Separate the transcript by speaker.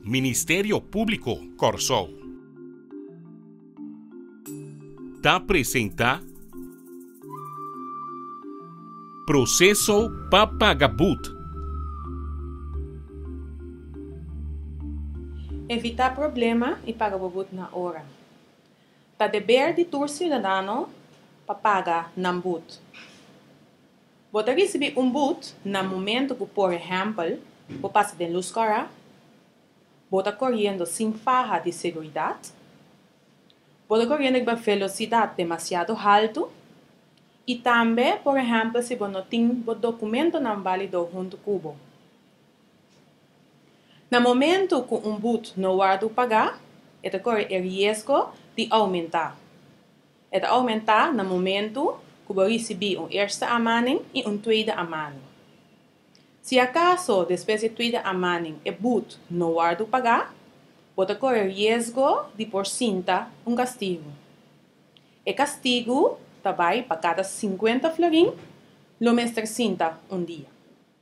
Speaker 1: Ministerio Públiko Kòrsou ta presentá Proseso pa Paga Bud. Evitá problema i paga bo bud na ora. Ta deber di tur siudadano pa paga nan bud. Bo ta risibi un but na momento ku por ehèmpel bo pasa den lus kòrá? Bo ta koriendo sin faha di seguridat? Bo ta koriendo riba velosidat demasiado haltu? I tambe por ehèmpel si bo no tin bo dokumentonan válido huntu ku bo. Na momento ku un but no wòrdu pagá e ta kore e riesgo di oumentá. E ta oumentá na momentu ku bo risibí un eerste aanmaning i un tweede aanmaning. Si akaso despues di e tweede aanmaning e buut no wòrdu pagá, bo ta kore riesgo di por sinta un kastigu. E kastigu ta bai pa kada sinkuenta florin lo mester sinta un dia.